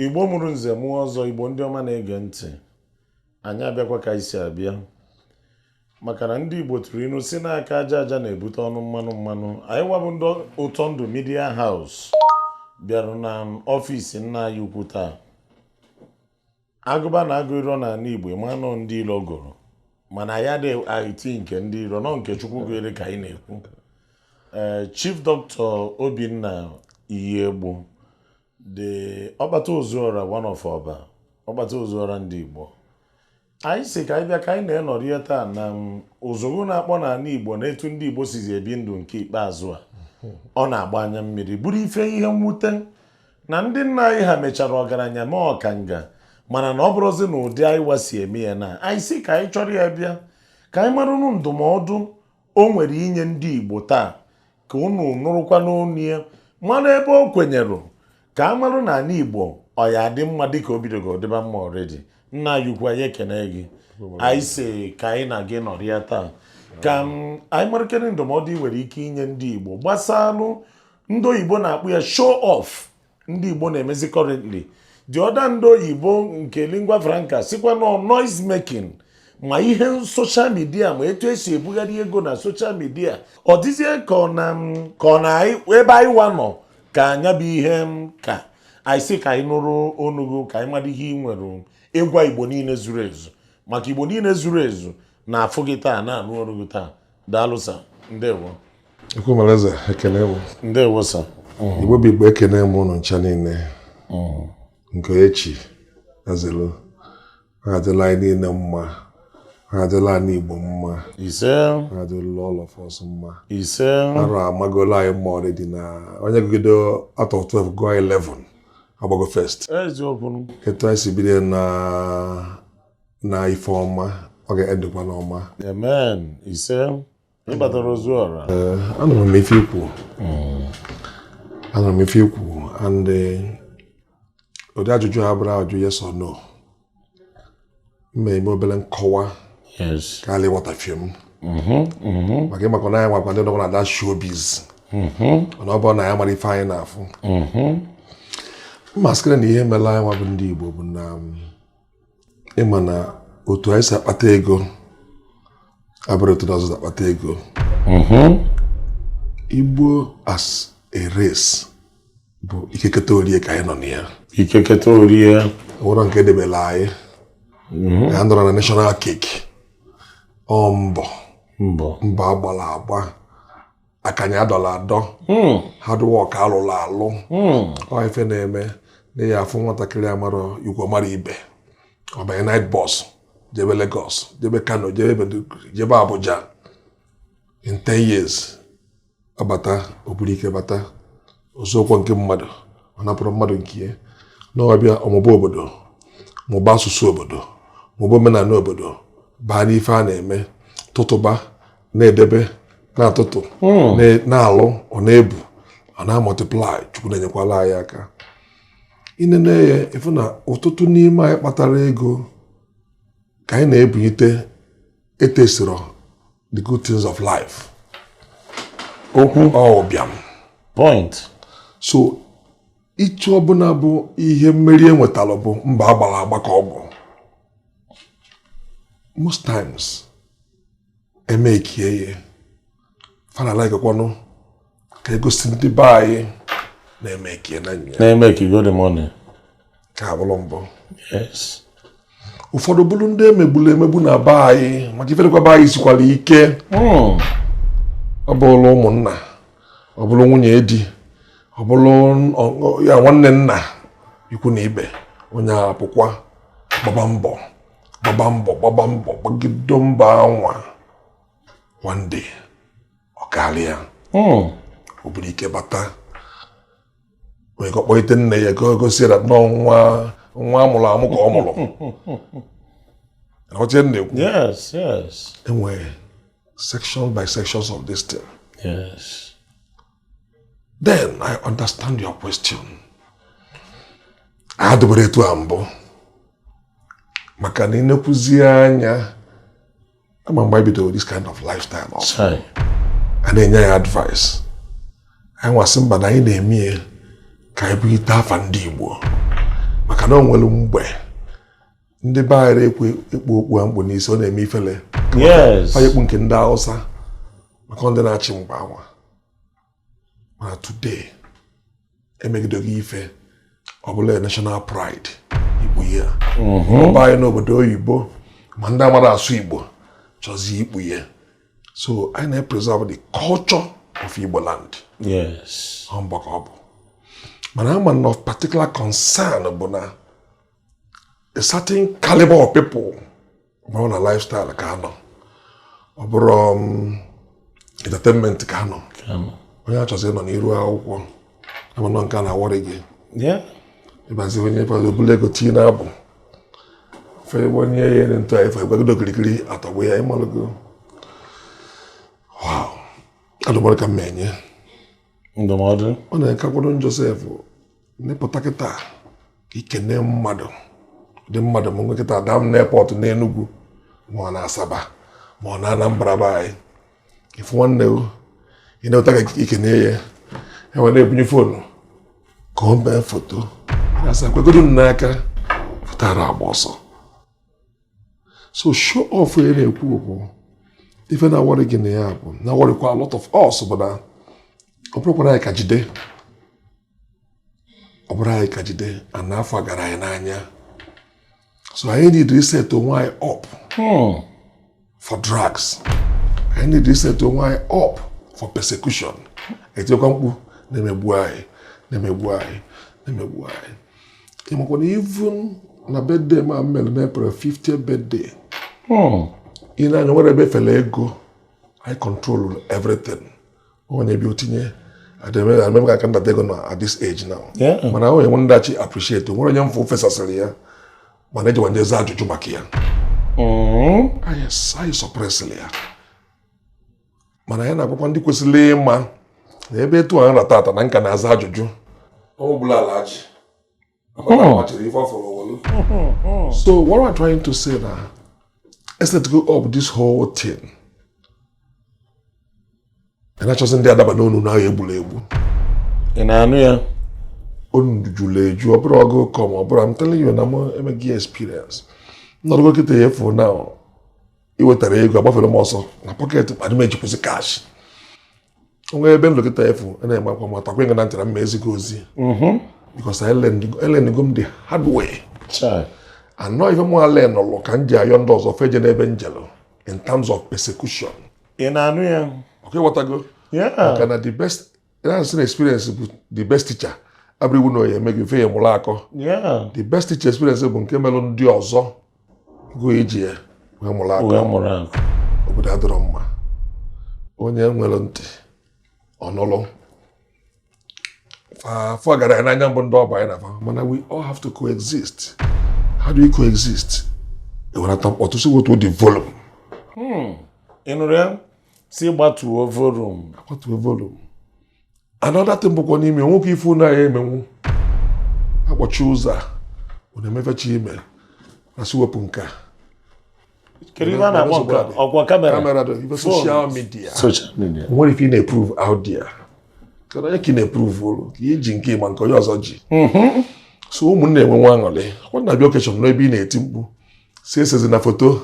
igbo mụrụ nze mụọ ọzọ igbo ndị ọma na-ege ntị anyị abịakwa ka anyị si abịa maka na ndị igbo tụrụ inu si na aka aja aja na-ebute ọnụ mmanụ mmanụ anyị wa bụ ndị ụtọ ndụ media house bịara na ọfịs nna anyị ukwu taa agụba na agụ iro n'ala Igbo ma na ọ ndị ilo gụrụ mana ya dị iti nke ndị iro na ọ nke Chukwu gụere ka anyị na-ekwu ee eh, Chief Doctor Obinna Iyiegbu the ọkpata ozuọra one of ọba ọkpata ozuọra ndị Igbo anyị si ka anyị bịa ka anyị na ya nọrịa taa na mm, ụzụgụ na-akpọ n'ala Igbo na etu ndị Igbo sizi ebi ndụ nke ikpeazụ a ọ na-agba anya mmiri bụrụ ife ihe mwute na ndị nna anyị ha mechara ọgaranya ma ọkanga mana na ọ bụrọzi n'ụdị anyị wa si eme ya na anyị si ka anyị chọrọ ya bịa ka anyị marụnụ ndụmọdụ o nwere inye ndị Igbo taa ka unu nụrụkwa n'ọnụ ya mara ebe o kwenyere ka a marụ na ala Igbo ọ ya adị mma dịka o bidogo dịba mma already nna anyị ukwu anyị ekene gị anyị si ka anyị na gị nọrịa taa ka anyị marakene ndụmọdụ ị nwere ike inye ndị Igbo gbasalụ ndị oyibo na-akpọ ya show off ndị igbo na-emezi currently the other ndị oyibo nke lingua franca sikwa na ọ noise making ma ihe social media ma etu e si ebugharị ego na social media ọ dịzie ka ọ na ka ọ na ebe anyị wa nọ ka nya bụ ihe ka anyị si ka anyị nụrụ ọnụ gị ka anyị mara ihe ị nwere ịgwa igbo niile zuru ezu maka igbo niile zuru ezu na-afụ gị taa na-anụ olu gị taa daalụ sa ndewo ekwemalaeze ekene m ndewo sa mm. igbo bụ igbo ekene m ụnụ ncha niile mm. nke onye chi ya zelu ọ ga-adịla anyị niile mma ọ ga-adịla anyị igbo mma ise ọ ga-adịla all of us mma ise arụ amagola anyị mma already na onye gụgide out of 12 gụọ 11 agbago first etu anyị si bido na na ife ọma ọ ga-endikwa n'ọma amen ise ị kpatara ozuọra eh, anụrụ m ife i kwu hmm. anụrụ m ife i kwu and eh, ụdị ajụjụ a abụrọ ajụjụ yes or no m ma-eme obere nkọwa ka a la ịghọtafie m mm-hmm, mm-hmm. maka ị makwa na anyị nwakwa ndị nọkwa na that showbiz mm-hmm. mana ọ bụrụ na ya mara ife anyị na-afụ mmaskịrị na ihe mere anyị nwa bụ ndị Igbo bụ na um, ị ma na otu anyị si akpata ego abụrọ otu ndị ọzọ si akpata ego mm-hmm. igbo as a race bụ ike keta orie ka anyị nọ na ya ike keta orie o nwerọ nke e debela anyị mm-hmm. anyị anọrọ na national cake ọ mbọ mbọ mbọ agbala agba akanya adọla adọ hmm. hard work alụlụ alụ hmm. ọ ife na-eme na ya afụ nwatakịrị amara ikwu mara ibe ọ banye night bus jebe Lagos jebe Kano jebe Abuja in 10 years abata o buru ike bata o zoọkwa nke mmadụ ọ napụrọ mmadụ nke ya na ọ bịa ọ mụba obodo mụba asụsụ obodo mụba omenala obodo baa n'ife a na-eme tụtụba na-edebe na-atụtụ hmm. na-alụ ọ na-ebu ọ na-amultiply Chukwu na-enyekwala anyị aka i nene ya ị fụ na ọtụtụ n'ime anyị kpatara ego ka anyị na-ebunite etasterọ the good things of life okwu ọbịam point so ihe ọbụla bụ ihe mmeri enwetara bụ mbọ agbara agba ka ọ bụ most times emekie ya fa na-alikekwanụ ka egosi ndị be anyị na emekiena ya na-emeki good money ka abụrụ mbụ yes ụfọdụ bụrụ ndị emegburu emegbu na be anyị maka ife dịkwa be anyị sikwara ike hmm. ọ bụrụ ụmụnna ọ bụrụ nwunye di ọ bụrụ ya nwanne nna ikwu na ibe onye apụkwa gbaba mbọ gbaba mbọ gbaba mbọ gbagido mbọ anwa one day ọ karịa hmm. o buru ike bata wee ka ọ kpọite nne ya ka o gosi ya na ọ nwa amụrụ amụ ka ọ mụrụ ọchị m na-ekwu enwere section by sections of this thing yes. then i understand your question adịburọ etu a mbụ maka na i nekwuzi anya ama mgbe anyị bidoro this kind of lifestyle ọfụụ a na-enye anyị advice anyị nwa sị mba na anyị na-eme ya ka anyị bulite afa ndị Igbo maka na o nwere mgbe ndị be anyị ekwe ekpu okpu a m kpu n'isi ọ na-eme ifele fa ya-ekpu nke ndị Hausa maka ọ ndị na-achị mgbe anwa mana today emegidogo ife ọ bụla national pride ikpu ya mhm. ọ be anyị n'obodo oyibo ma ndị amarọ asụ Igbo chọzi ikpu ya so anyị na-epreserve the culture of Igbo land yes ọ mbọ ka ọ bụ mana ama na of particular concern bụ na a certain caliber of people ma ọ na lifestyle ka anọ ọ bụrụ um, entertainment ka anọ onye achọzi ịnọ n'iru akwụkwọ amanọ nke a na-aworry gị ịbazi onye fọdụ o bulu ego tii na-abụ fegbe onye ya ere ntụ anyị fegbegodo okirikiri atọgbu ya ịmalụgo adụmọdụ ka m na-enye ndụmọdụ ọ na-enye kakwado Joseph n'ịpụta kịta ikene mmadụ dị mmadụ m kịta adaa m n'airport n'Enugwu ma ọ na Asaba ma ọ na Anambra be anyị ifu nwanne ị na-eweta ka ikene ya enwe na-ebunye phone ka o mee foto asị kwegodo m n'aka pụtara agba ọsọ so show off ya na-ekwu okwu ife na-aworry gị na ya bụ na-aworrykwa a lot of us bụ na ọ bụrụkwa na anyị ka jide ọ bụrụ anyị ka jide ana afọ gara anyị n'anya so anyị need reset onwe anyị up hmm. for drugs anyị need reset onwe anyị up for persecution etikwa mkpu na-emegbu anyị na-emegbu anyị na-emegbu anyị ịmakwana even na birthday m mere na April 50th birthday ị na-anụ ya nwere ebe fere ego I control everything. onye bi otinye adịmebe ka nna tego na at this age now mana ahụ enwe ndachi appreciate nwere onye m fụ o fesasịrị ya mana ejiwa m je zaa ajụjụ maka ya mm-hmm. anyị suppressịrị ya mana ya na-agwakwa ndị kwesịrị ịma na ebe etu a nra tata na nka na-aza ajụjụ ọ bụla Alhaji Oh. so what am I trying to say now? Let's let go of this whole thing. And achọzi ndị adaba n'ọnụ na egburu egbu. Ị na-anụ ya? Ọnụ juru eju, ọ bụrụ ọgụ kọm, ọ bụrụ I'm telling you na m emego experience. Nnọrọgo kịta ya efu na iwetara ego agbafere m ọsọ na pocket m adị m ejikwuzi cash. o nwe ebe nlekọta efu na-eme akwa ma takwa ịga na ntara mma ezigbo ozi mm-hmm. because elearnugo m the hard way and ọ ife mụ alearnulu ka m ji ayọ ndị ọzọ fa ejene ebe m jelu in terms of persecution ị na-anụ ya okay ịghọtago maka na the best na-asị na experience bụ the best teacher abụrọ iwu na ọ ya-eme gị mfe ya mụrụ akọ the best teacher experience bụ nke melụ ndị ọzọ gị eji ya wee mụrụ akọ wee mụrụ akọ obodo adịrọ mma onye nwere ntị ọ nụlụ afọ gara ya n'anya mbụ ndị ọba anyị na fa mana we all have to coexist how do we coexist ewerata mkpọtụ sị wetuo the volume hmm. ị nụrụ ya sị gbatuo volume agbatuo volume another thing bụkwa n'ime o nwekwu ife unu ya-emenwu akpọchie ụzọ a na-emefechi ime a sị wepụ nke a kedu ihe a na-akpọ nke a? ọkwa kamera kamera dị ife social media Social media. nwere ife ị na-eprove out there kedu onye ka ị na-eprove ole ka i ji nke ị ma nke onye ọzọ ji so ụmụnne enwewe aṅụrị kwa na-abịa occasion n'ebe ị na-eti mkpu sị esezina foto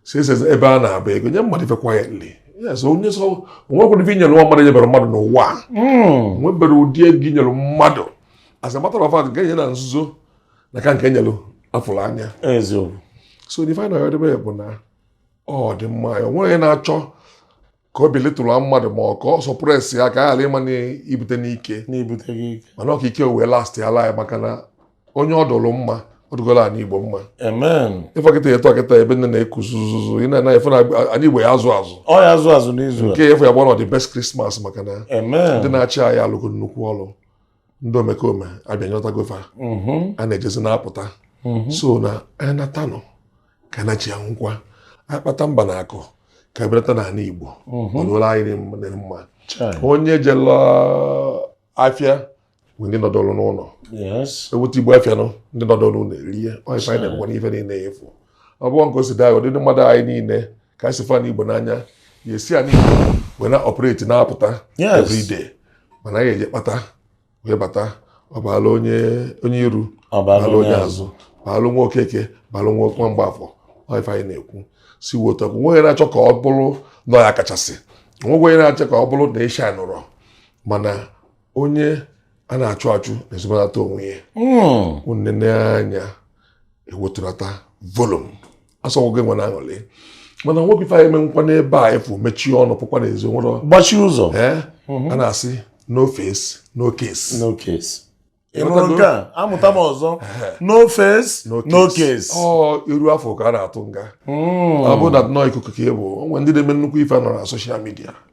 sị esezi ebe a na-agba ego nye mmadụ ife quietly yes onye sị o nwekwara ife i nyere nwa mmadụ enyebere mmadụ n'ụwa a hmm. nwebere ụdị ego e nyere mmadụ as a matter of fact nke e nye na nzuzo na-aka nke e nyere afụrụ anya so the final edebe bụ na ọ dị mma ya o nweghị onye na-achọ ka ọ belittle mmadụ ma ọ ka ọ suppress ya ka a ghara ịma n'ibute n'ike mana ọka ike wee last ya laa maka na onye ọ dụrụ mma ọ dụgoro ana Igbo mma ife kịta eto kịta ebe niine na-eku zuzuzu ị na-ana efe n'ana Igbo ya azụ azụ ọ ya azụ azụ n'izu nke efe ya bụ nnọọ the best Christmas maka na ndị na-achị anyị alụgo nnukwu ọlụ ndị omekome abịanyọtago fa mhm. a na-ejezi na-apụta mhm. so na anatanụ ka na chi anwụkwa akpata mba na akụ ka ebulata n'ana Igbo mhm. ọlụla anyị dị mma onye jelu afịa nwe ndị nọdụrụ n'ụlọ eweta ibu afịa nọ ndị nọdụrụ n'ụlọ erie ọ ife anyị na-egwere ife niile efu ọ bụrụ nke o si daa ụdịdị mmadụ anyị niile ka anyị si fụ ana Igbo n'anya ya esi anyị wee na-operate na-apụta everyday mana anyị eje kpata wee bata ọ baala onye onye iru baala onye azụ baalụ nwa Okeke baalụ nwa nwa Mgbafọ ife anyị na-ekwu si wota bụ nweghị na-achọ ka ọ bụrụ na ya kachasị nweghị onye na-achọ ka ọ bụrụ na ịsha nụrọ mana onye a na-achụ achụ na-ezobanata onwe ya hmm. o nene anya ewetunata volume asịghị gị enwena aṅụlị mana nwekwu ife ị ya-emenwukwa n'ebe afụ mechie ọnụ pụkwa n'ezi wee gbachie ụzọ mhm. a na-asị no face no case no case ị nụrụ nke a amụta m ọzọ no face no case ọ iru a fụ ka a na-atụ nga hmm. ọ bụ nnọọ ikuku ka ị bụ o nwe ndị na-eme nnukwu ife nọ na social media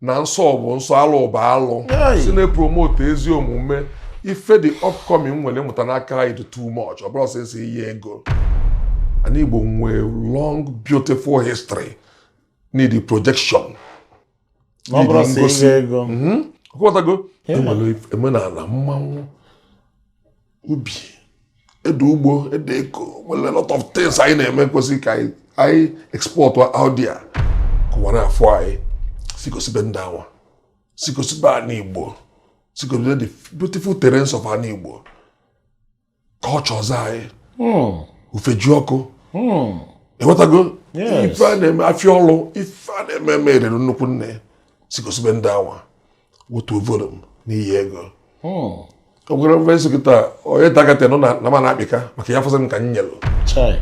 na nsọ bụ nsọ alụ bụ alụ sị na-epromote ezi omume ife the upcoming nwere mụta n'aka anyị dị too much ọ bụrọ sọsọ ihe ego ana Igbo nwee long beautiful history needị projection ọ bụrọ sọ ihe ego mhm. ị ghọtago e nwere omenala mmanwụ ubi ede ugbo ede eko nwere lot of things anyị na-eme kwesịrị ka anyị export out there ka ụwa na-afụ anyị sị gosibe ndị anwa sị gosibe ana Igbo sị gosibe the beautiful terrains of ana Igbo cultures anyị hmm. Ufejiọkụ hmm. ị wọtago ife a na-eme afịa ọlụ ife a na-eme eme erere nnukwu nne sị gosibe ndị anwa otu voro m n'iyi ego ogwere mfe nsogị taa onye takata nọ na ma na-akpịka maka ya force m ka m nyelụ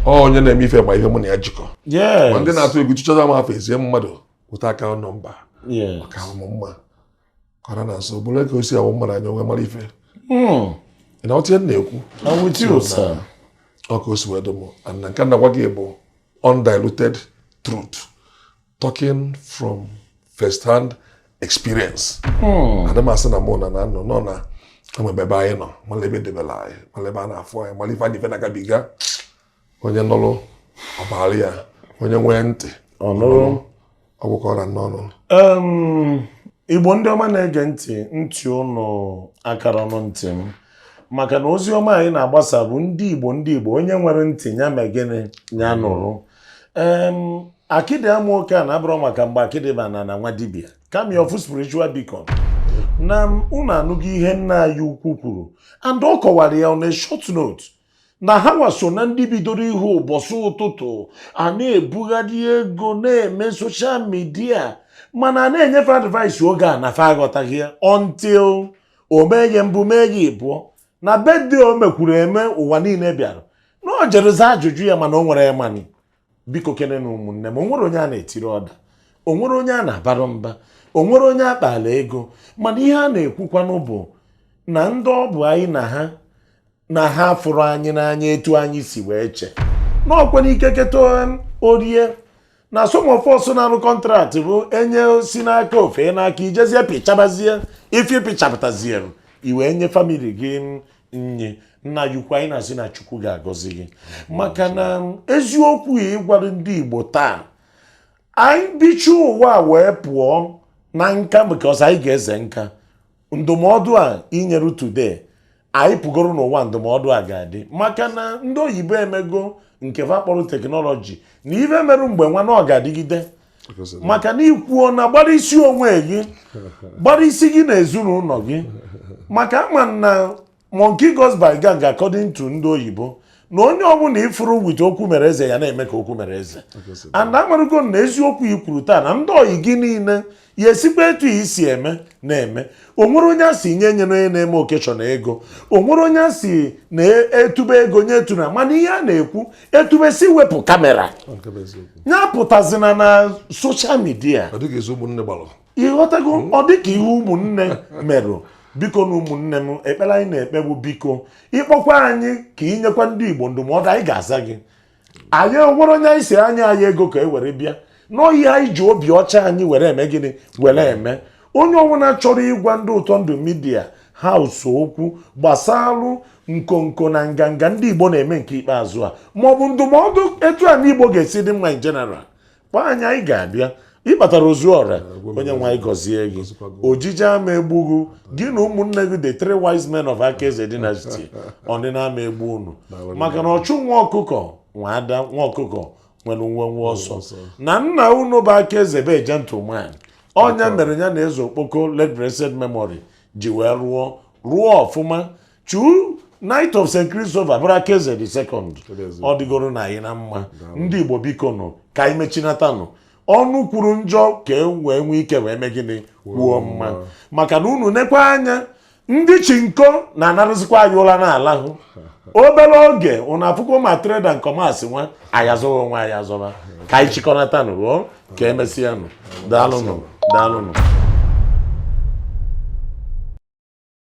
onye na-eme ife ma ihe mụ na ya jikọ ma ndị na-atụ egwu chụchaza m afọ ezie mmadụ weta account nọmba maka ahụmụ mma kọrọ na nso bụrụ ka o si awụ mma na anya onwe mara ife hmm. na ọtịa m na-ekwu ọ ka o si wee dụ m na nke m na-agwa gị bụ undiluted truth talking from first hand experience hmm. ana m asị na mụ na na nọ nọ na enwebe ebe anyị nọ mala ebe debela anyị mala ebe a na-afụ anyị mala ife anyị ife na-agabiga onye nụrụ ọ baara ya onye nwee ntị ọ gwụkwara n'ọnụ igbo ndị ọma na-ege ntị ntị unu akara ọnụ ntị m maka na ozi ọma anyị na-agbasarụ ndị igbo ndị igbo onye nwere ntị ya mee gịnị ya nụrụ um, akịdị ama oke ana abụrọ maka mgbe akịdị ba n'ana nwa dibịa kami of spiritual beacon na unu anụghị ihe nna anyị ukwu kwuru and ọ kọwara ya on a short note na ha nwa so na ndị bidoro ihe ụbọchị ụtụtụ a na-ebugharị ego na-eme social media mana a na-enye fa advice oge a na fa aghọtaghị ya until o mee gị mbụ mee gị ịbụọ na birthday o mekwuru eme ụwa niile bịara na o jere za ajụjụ ya mana o nwere E-Money bikokene nụ ụmụnne m o nwere onye a na-etiri ọda o nwere onye a na-abara mba o nwere onye a kpala ego mana ihe a na-ekwukwanụ bụ na ndị ọ bụ anyị na ha na ha fụrụ anyị n'anya etu anyị si wee chee na ọkwa n'ike keta orie na some of us na-arụ contract bụ e nye si n'aka o fee n'aka i jezie pịchabazie ife pịchapụtazie uru i wee nye family gị nye nna anyị ukwu anyị na-asị na chukwu ga-agọzi gị maka na eziokwu a ị gwara ndị igbo taa anyị bicha ụwa wee pụọ na nka because anyị ga-eze nka ndụmọdụ a i nyere today anyị pụgoro n'ụwa ndụmọdụ a ga-adị maka na ndị oyibo emego nke va kpọrọ technology na ife merụ mgbe nwa na ọ ga-adịgide maka na i kwuo na gbara isi onwe gị gbara isi gị na ezinụlọ gị maka a ma na monkey goes by gang according to ndị oyibo na onye ọbụla ị fụrụ with okwu mere eze ya na-eme ka okwu mere eze and a marugo na eziokwu i kwuru taa na ndị ọyị gị niile ya esikwa etu i si eme na-eme o nwere onye a sị nye nye na onye na-eme occasion ego o nwere onye a sị na e tube ego nye etu na mana ihe a na-ekwu e tubesi wepụ camera ya apụtazina na social media ị ghọtago hmm? ọ dịka ihe ụmụnne merụ bikonụ ụmụnne m ekpere anyị na-ekpe bụ biko ị kpọkwa anyị ka i nyekwa ndị Igbo ndụmọdụ anyị ga-aza gị anyị enwerọ onye anyị sị ya nye anyị ego ka e were bịa n'ohi anyị ji obi ọcha anyị were eme gịnị were eme onye ọbụla chọrọ ịgwa ndị ụtọ ndụ media house okwu gbasalụ nkonko na nganga ndị igbo na-eme nke ikpeazụ a maọbụ ndụmọdụ etu anị igbo ga-esi dị mma in general kpọọ anyị anyị ga-abịa ịbatara Ozuọra onye nwe anyị gọzie gị ojije ama egbu gị gị na ụmụnne gị the three wise men of Akaeze dynasty ọnịna ama egbu unu maka na ọchụ nwa ọkụkọ nwe ada nwa ọkụkọ nwere nwenwe ọsọ na nna unu bụ Akaeze bụ gentleman ọ nya mere ya na eze okpoko late blessed memory ji wee rụọ rụọ ọfụma True Knight of St. Christopher bụrụ Akaeze the second ọ dịgoro nụ anyị na mma ndị Igbo biko nụ ka anyị mechinatanụ ọnụ kwuru njọ ka e wee nwee ike wee mee gịnị kwuo mma maka na unu nekwa anya ndị chinko na-anarụzikwa anyị ụra n'ala hụ obere oge unu afụkwa ma trader nkọmasị nwa ayazụghị onwe ayazọba ka anyị chịkọnatanụ ruo ka emesịanụ daalụnụ daalụnụ